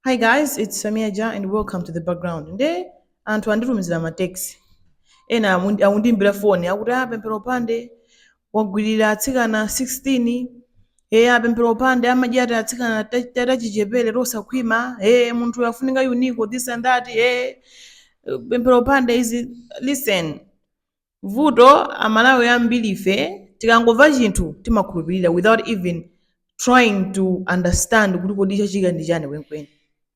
Hi guys, it's Tamia Ja and welcome to the background. Nde anthu anditumizira ma text. Ena amundi- akundiimbira foni akuti ah Pemphero Mphande wagwirira atsikana 16 eh ah Pemphero Mphande amadya ati atsikana ta- ta- tachichepere tosakhwima eh munthu afunika UNICEF this and that eh Pemphero Mphande izi listen Vuto amalawi ambirife tikangomva chinthu timakhulupirira without even trying to understand kuti kodi chachitika ndi chani kwenikweni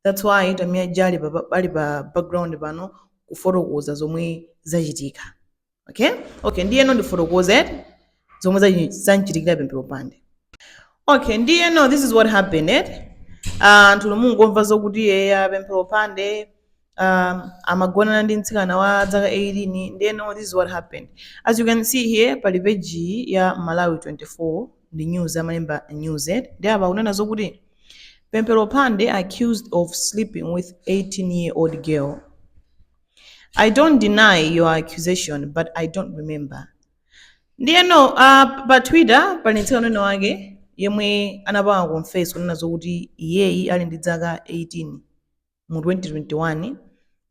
that's why Tamia Ja ali pa, ali pa background pano kufotokoza zomwe zachitika okay okay ndiyeno ndifotokoze zomwe zachi- zamchitikira Pemphero Mphande okay ndiyeno this is what happened eh? anthu mungomva zokuti eya Pemphero Mphande um, amagonana ndi mtsikana wa dzaka 18 ndiyeno this is what happened as you can see here pali peji ya malawi 24 ndi news amalemba news eh? ndiye apa akunena zokuti Pemphero Mphande accused of sleeping with 18 year old girl i don't deny your accusation but i don't remember ndiyeno uh, pa twitter pali mtsikana wina wake yemwe anapanga confess kunena zokuti iyeyi ali ndi dzaka 18 mu 2021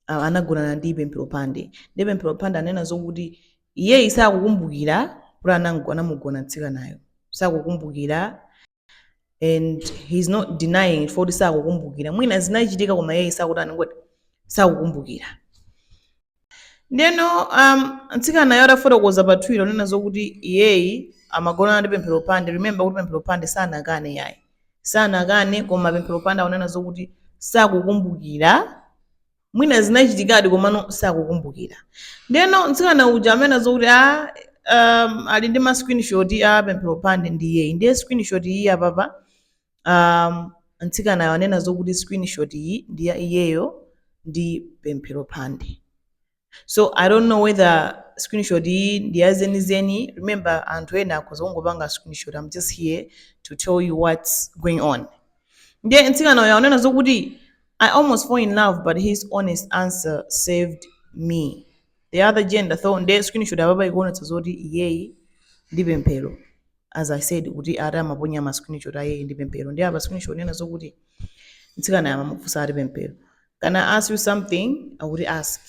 ah, anagonana ndi Pemphero Mphande ndiye Pemphero Mphande anena zokuti iyeyi sakukumbukira kuti anango- anamugona mtsikanayo sakukumbukira and he's not denying it chifukwa choti sakukumbukira mwina zinachitika koma iyeyi sakuti anangoti sakukumbukira ndeno um, mtsikanayo atafotokoza pa Twitter kunena zokuti iyeyi amagonana ndi Pemphero Mphande remember kuti Pemphero Mphande sanakane yayi sanakane koma Pemphero Mphande akunena zokuti sakukumbukira mwina zinachitikadi komano sakukumbukira ndeno mtsikana uja amanena zokuti a um, ali ndi ma screenshot a Pemphero Mphande ndi iyeyi ndiye screenshot iyi apapa um, mtsikanayo anena zokuti screenshot iyi ndi ya iyeyo ndi Pemphero Mphande so i don't know whether screenshot iyi ndi ya zenizeni remember anthu ena akhoza kungopanga screenshot i'm just here to tell you what's going on ndiye mtsikana uyo anena zokuti i almost fall in love but his honest answer saved me the other gender though ndiye screenshot apapa ikuonetsa zoti iyeyi ndi Pemphero as i said kuti ati amaponya ma screenshot a iyeyo ndi Pemphero ndiye apa screenshot ikunena zokuti mtsikana amamufunsa ati Pemphero can i ask you something akuti ask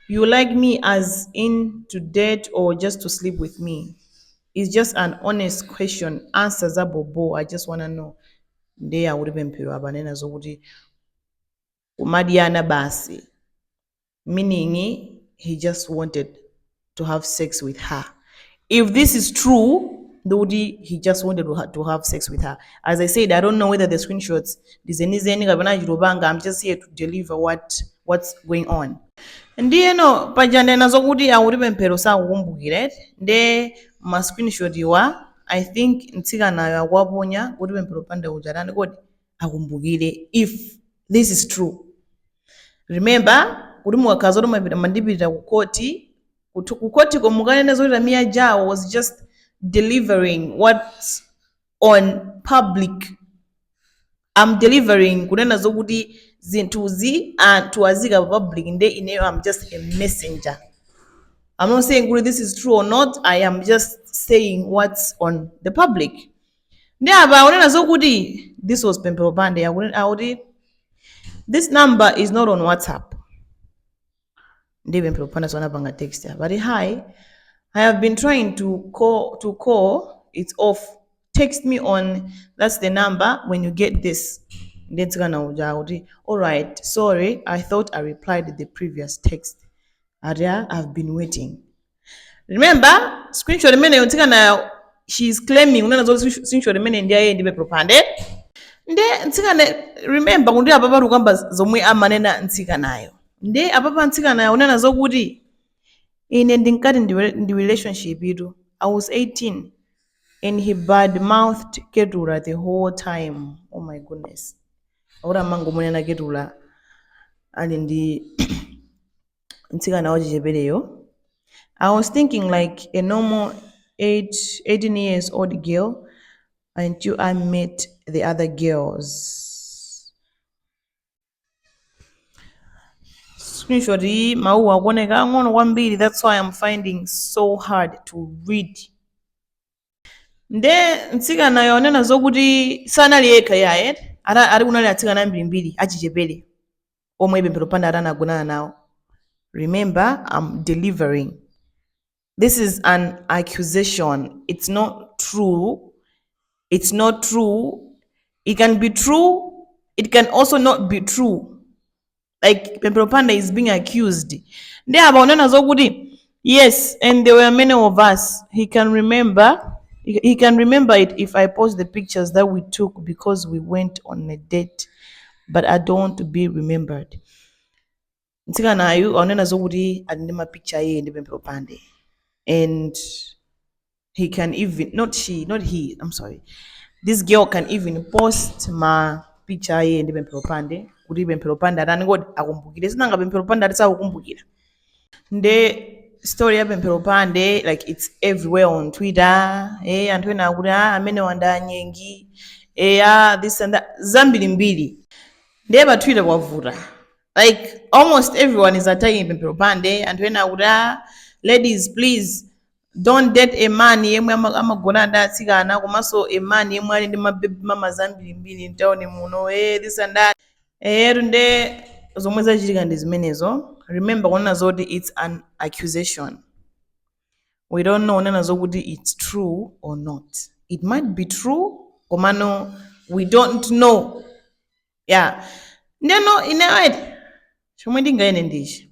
you like me as in to date or just to sleep with me it's just an honest question answer za bobo i just wanna know ndiye akuti Pemphero apa anena zokuti kumadyana basi meaning he just wanted to have sex with her if this is true ndikuti he just wanted to ha- to have sex with her as i said i don't know whether the screenshots ndizenizeni kapena achitopanga i'm just here to deliver what what's going on ndiyeno paja ndena zokuti akuti pemphero sakukumbukira eti nde ma screenshot awa i think mtsikanayo akuwaponya kuti pemphero mphande uja atani kodi akumbukire if this is true remember kuti mukakhala zoti mupita mundipitira ku khoti ku- ku khotiko mukanene zoti tamia ja uyo was just delivering what's on public I'm delivering kunena zokuti zinthuzi anthu aziika pa public nde ineyo I'm just a messenger I'm not saying kuti this is true or not I am just saying what's on the public nde apa akunena zokuti this was pemphero mphande akune- akuti this number is not on whatsapp nde pemphero mphande so anapanga text apa ati hi i have been trying to call, to call it's off text me on that's the number when you get this nde mtsikana uja akuti alright sorry i thought i replied the previous text ati "Ah, i've been waiting remember screenshot imeneyo mtsikanayo she is claiming kunena zoti screenshot imeneyi ndi ya iye ndi pemphero mphande nde mtsikana remember kuti apapa tikukamba zomwe amanena mtsikanayo nde apapa mtsikanayo akunena zokuti ine ndinkati ndi re- ndi relationshiptu i was 18 and he bad mouthed ketura the whole time oh my goodness akuti amangomunena ketura ali ndi mtsikana wachichepereyo i was thinking like a normal 8, 18 years old girl until i met the other girls screenshot iyi mawuwa akuoneka ang'ono kwambiri that's why i'm finding so hard to read nde mtsikanayo anena zokuti sanali yekha ayi Ana- ali kunali atsikana ambirimbiri achichepere omwe pemphero mphande ati anagonana nawo remember i'm delivering this is an accusation it's not true it's not true it can be true it can also not be true like pemphero panda is being accused ndi apa unena zokuti yes and there were many of us he can remember he he can remember it if i post the pictures that we took because we went on a date but i don't want to be remembered mtsikanayu aunena zokuti ali ndi mapicture iye ndi pemphero pande and he can even not she not he i'm sorry this girl can even post ma picture a iye ndi pemphero mphande kuti pemphero mphande atani kodi akumbukire sinanga pemphero mphande ati sakukumbukira nde story ya pemphero mphande like it's everywhere on twitter eh anthu ena akuti ah amene wandinyenga eh ah this and that zambirimbiri ndiye pa twitter kwavuta like almost everyone is attacking pemphero mphande anthu ena akuti ah ladies please Don't date a man yemwe ama- amagona ndi atsikana komanso a man yemwe ali ndi ma baby mamas ambirimbiri mtown muno eh this and that eyetu nde zomwe zachitika ndi zimenezo remember kunena zoti it's an accusation we don't know kunena zokuti it's true or not it might be true komano we don't know yeah ndeno ine wait chomwe ndinganene ndichi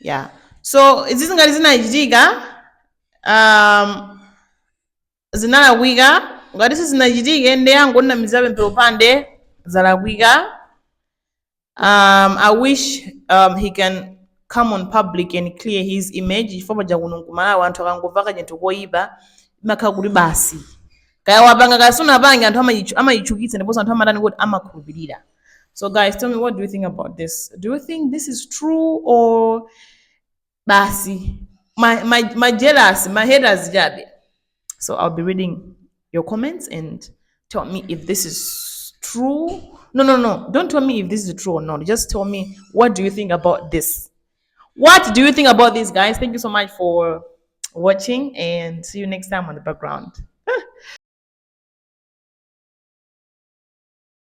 yeah so izi ngati zinachitika um, zinalakwika ngati sizinachitike nde angonamizira Pemphero Mphande zalakwika um, i wish um, he can come on public and clear his image chifukwa paja kuno ku Malawi anthu akangomva kachinthu koyipa imakhala kuti basi kaya wapanga kaya sunapange anthu amayichu- amayichukitsa ndiponso anthu amatani kuti amakhulupirira so guys tell me what do you think about this do you think this is true or basi my, my, my jealous my haters jabe so i'll be reading your comments and tell me if this is true no no no don't tell me if this is true or not just tell me what do you think about this what do you think about this guys thank you so much for watching and see you next time on the background